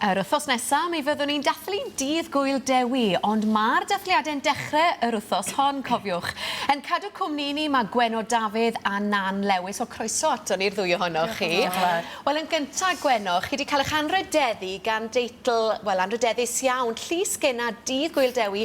Yr wythnos nesaf, mi fyddwn ni'n dathlu Dydd Gŵyl Dewi, ond mae'r dathliadau'n dechrau yr wythnos hon, cofiwch. Yn cadw cwmni ni, mae Gwenno Dafydd a Nan Lewis, o croeso ato ni'r ddwy ohonoch chi. Wel, yn gyntaf, Gwenno, chi wedi cael eich anrhydeddu gan deitl, wel, anrhydeddus iawn, Llys Gena Dydd Gŵyl Dewi,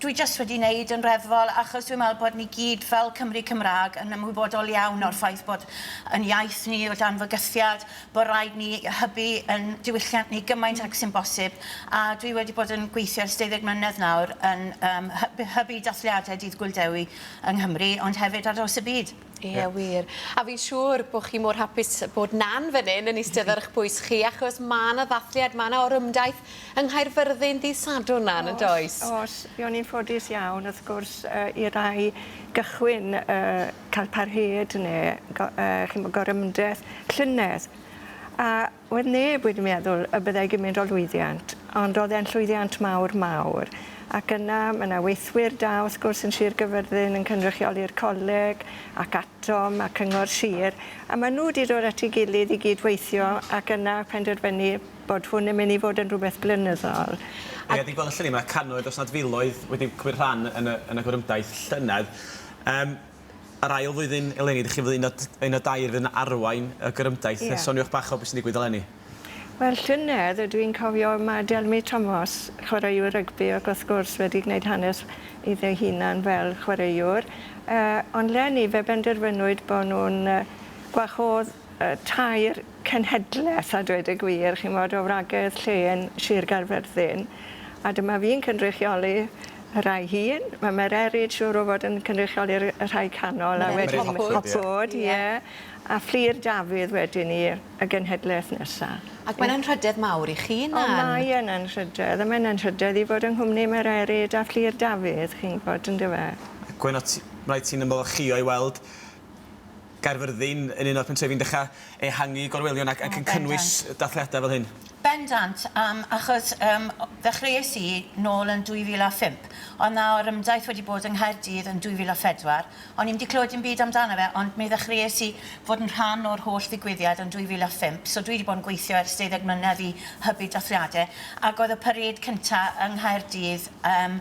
Dwi jyst wedi neud yn reddfol achos dwi'n meddwl bod ni gyd fel Cymry Cymraeg yn ymwybodol iawn o'r ffaith bod yn iaith ni o dan fygythiad, bod rhaid ni hybu yn diwylliant ni gymaint ag sy'n bosib a dwi wedi bod yn gweithio ers deuddeg mlynedd nawr yn yym hybu dathliadau Dydd Gŵyl Dewi yng Nghymru ond hefyd ar draws y byd. Ie wir. A fi'n siŵr bo' chi mor hapus bod Nan fyn 'yn yn istedd ar 'ych pwys chi achos ma' 'na ddathliad ma' 'na orymdaith yng Nghaerfyrddin dydd Sadwrn Nan yndoes? O's o's. Fi o'n i'n ffodus iawn wrth gwrs yy i rai gychwyn yy ca'l parhêd ne' go- yy chi'n 'bo' gorymdreth llynedd a Oedd neb wedi meddwl y byddai gymint o lwyddiant, ond oedd e'n llwyddiant mawr, mawr. Ac yna, ma' 'na weithwyr da, wrth gwrs, yn Sir Gyfyrddin yn cynrychioli'r coleg, ac ATOM, a Cyngor Sir, a ma' nhw 'di dod at ei gilydd i gyd-weithio, ac yna penderfynu bod hwn yn mynd i fod yn rhywbeth blynyddol. Ie, a dwi'n gweld allan ni, ma' cannoedd, os nad filoedd, wedi cymryd rhan yn y, yn y gorymdaith llynedd. Yym. yr ail flwyddyn eleni, dych chi'n flwyddyn un o, un o dair fydd yn arwain y gorymdaith. Ie. Soniwch bach o beth sy'n digwydd eleni. Wel, llynedd, dw i'n cofio, mae Delmi Tomos, chwaraewr rygbi, ac wrth gwrs wedi gwneud hanes iddo ei hunan fel chwaraewr, yy ond 'leni fe benderfynwyd bod nhw'n yy gwahodd y tair cenhedlaeth a dweud y gwir chi'mod o wragedd, llên, sir Gaerfyrddin a dyma fi'n cynrychioli y rhai hŷn ma' Mererid siŵr o fod yn cynrychioli'r y rhai canol a wedyn Mererid Hopwood. Hopwood ie. Ie. A Fflur Dafydd wedyn 'ny y genhedlaeth nesa. Ac mae'n anrhydedd mawr i chi na? O mae yn anrhydedd a mae'n anrhydedd i fod yng nghwmni Mererid a Fflur Dafydd chi'n gwbod yndyfe? Gwenno ti- reit ti'n ymolchïo i weld Gaerfyrddin yn un o'r pentrefi'n dechrau ehangu gorwelion ac yn cynnwys dathliadau fel hyn? Bendant, yym, achos yym ddechreuais i nôl yn 2005, ond nawr ym daith wedi bod yng Nghaerdydd yn 2004, o'n i'm 'di clywed dim byd amdano fe, ond mi ddechreuais i fod yn rhan o'r holl ddigwyddiad yn 2005, so dwi 'di bod yn gweithio ers deuddeg mlynedd i hybu dathliadau, ac oedd y parêd cynta' yng Nghaerdydd yym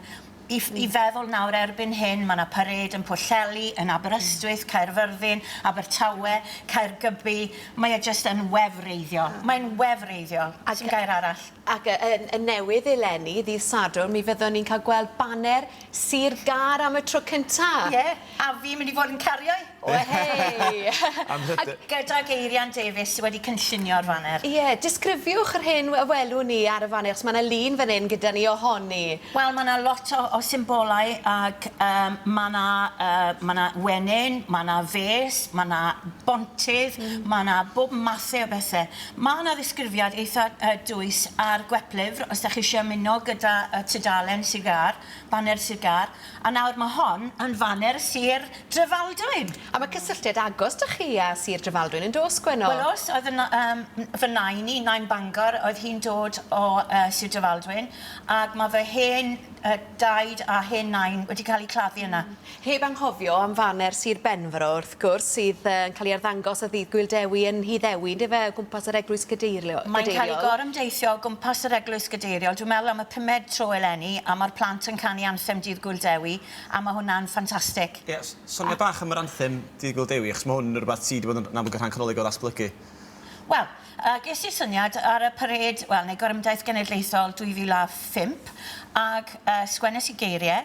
I i feddwl nawr erbyn hyn ma' 'na parêd yn Pwllheli, yn Aberystwyth, Caerfyrddin, Abertawe, Caergybi, mae e jyst yn wefreiddiol. Mae'n wefreiddiol. O's un gair arall? Ac y y y newydd eleni ddydd Sadwrn mi fyddwn ni'n ca'l gweld baner Sir Gâr am y tro cynta. Ie. A fi'n mynd i fod yn cario 'i! Wehei! Am hyder. A gyda Geirian Davies sy wedi cynllunio'r faner. Ie, disgrifiwch yr hyn y welwn ni ar y faner, achos ma' 'na lun fan 'yn gyda ni ohoni. Wel ma' 'na lot o o symbolau ag yym ma' 'na yy ma' 'na wenyn, ma' 'na fês, ma' 'na bontydd, ma' 'na bob mathe o bethe. Ma' 'na ddisgrifiad eitha yy dwys ar gweplyfr os 'dach chi isie ymuno gyda y tudalen Sir Gâr, baner Sir Gâr. A nawr mae hon yn faner Sir Drefaldwyn! A mae cysylltiad agos 'da chi a Sir Drefaldwyn yn does Gwenno? Wel oes, oedd yn yym fy nain i, nain Bangor, oedd hi'n dod o yy Sir Drefaldwyn ac mae fy hen yy daid a hen nain wedi cael eu claddu yna. Heb anghofio am faner Sir Benfro wrth gwrs. wrth gwrs, sydd yn cael ei arddangos ar Ddydd Gŵyl Dewi yn Nhŷ Ddewi, yndyfe, o gwmpas yr Eglwys Gadeiriol. Mae'n cael ei gorymdeithio o gwmpas yr Eglwys Gadeiriol, dwi'n meddwl am y pumed tro eleni, a mae'r plant yn canu anthem Dydd Gŵyl Dewi, a mae hwnna'n ffantastig. Ie, soniai bach am yr anthem Dydd Gŵyl Dewi, achos mae hwn yn rhywbeth sy' 'di bod yn amlwg yn rhan canolig o ddatblygu. Wel, yy, ges i syniad ar y parêd, wel, neu gorymdaith genedlaethol 2005, ac yy, sgwennes i geirie,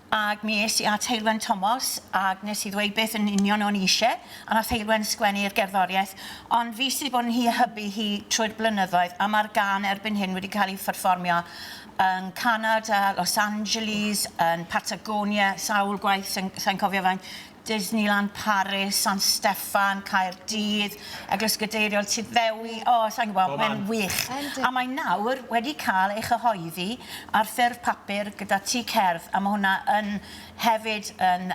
Ac mi es i at Heulwen Tomos ac nes i ddweud beth yn union o'n i isie, a nath Heulwen sgwennu'r gerddoriaeth, ond fi sy' 'di bod yn hi a hybu hi trwy'r blynyddoedd, a ma'r gân erbyn hyn wedi cael ei pherfformio yn Canada, Los Angeles, yn Patagonia, sawl gwaith, sai'n sai'n cofio faint, Disneyland Paris, San Steffan, Caerdydd, Eglwys Gadeiriol, Tŷ Ddewi, o, sa i'n gwybod, mae'n wych. A mae nawr wedi cael ei chyhoeddi ar ffurf papur gyda Tŷ Cerdd, a mae hwnna yn hefyd yn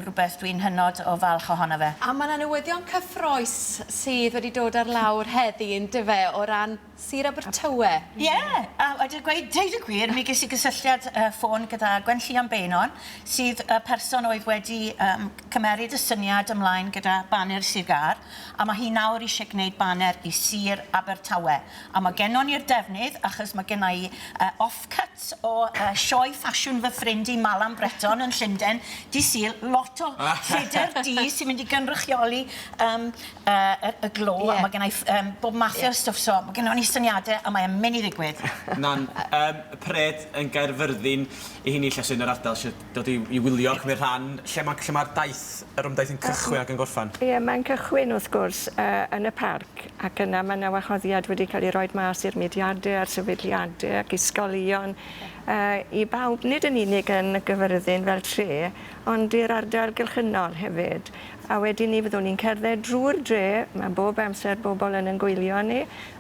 rhywbeth dwi'n hynod o falch ohono fe. A mae 'na newyddion cyffrous sydd wedi dod ar lawr heddi, yn dyfe, o ran, Sir Abertawe. Ie! A a dweud gweud deud y gwir mi ges i gysylltiad yy ffôn gyda Gwen Llion Beynon sydd y person oedd wedi yym cymeryd y syniad ymlaen gyda baner Sir Gâr a ma' hi nawr isie gneud baner i Sir Abertawe a ma' gennon ni'r defnydd achos ma' genna i yy offcut o yy sioe ffasiwn fy ffrind i Malan Bretton yn Llunden dy' Sul lot o lleder du sy'n mynd i gynrychioli yym yy y y glo a ma' gennai ff- yym bob math o stwff so ma' gynno ni syniade a mae e'n myn' i ddigwydd. Na'n yym pred yn Gaerfyrddin 'i hun i lle sy yn yr ardal sy dod i i wylio a cymryd rhan. Lle ma' lle ma'r daith yr ymdaith yn cychwyn ac yn gorffan? Ie mae'n cychwyn wrth gwrs yy yn y parc ac yna ma' 'na wahoddiad wedi ca'l 'i roid mas i'r mudiade a'r sefydliade ac ysgolion yy i bawb nid yn unig yn y Gyfyrddin fel tre ond i'r ardal gylchynol hefyd. A wedyn 'ny fyddwn ni'n cerdded drwy'r dre, ma' bob amser bobl yn yn gwylio arni,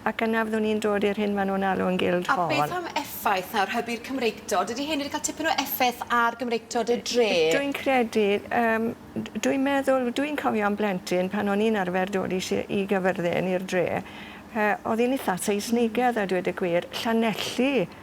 ac yna fyddwn ni'n dod i'r hyn ma' nhw'n alw yn Guildhall. A beth am effaith, nawr, hybu'r Cymreictod, dydy hyn wedi cael tipyn o effaith ar Gymreictod y dre? Dwi'n credu, yym, d- dwi'n meddwl, dwi'n cofio'n blentyn pan o'n i'n arfer dod i si- i Gyfyrddin, i'r dre, yy, o'dd hi'n itha Seisnigedd a dweud y gwir, Llanelli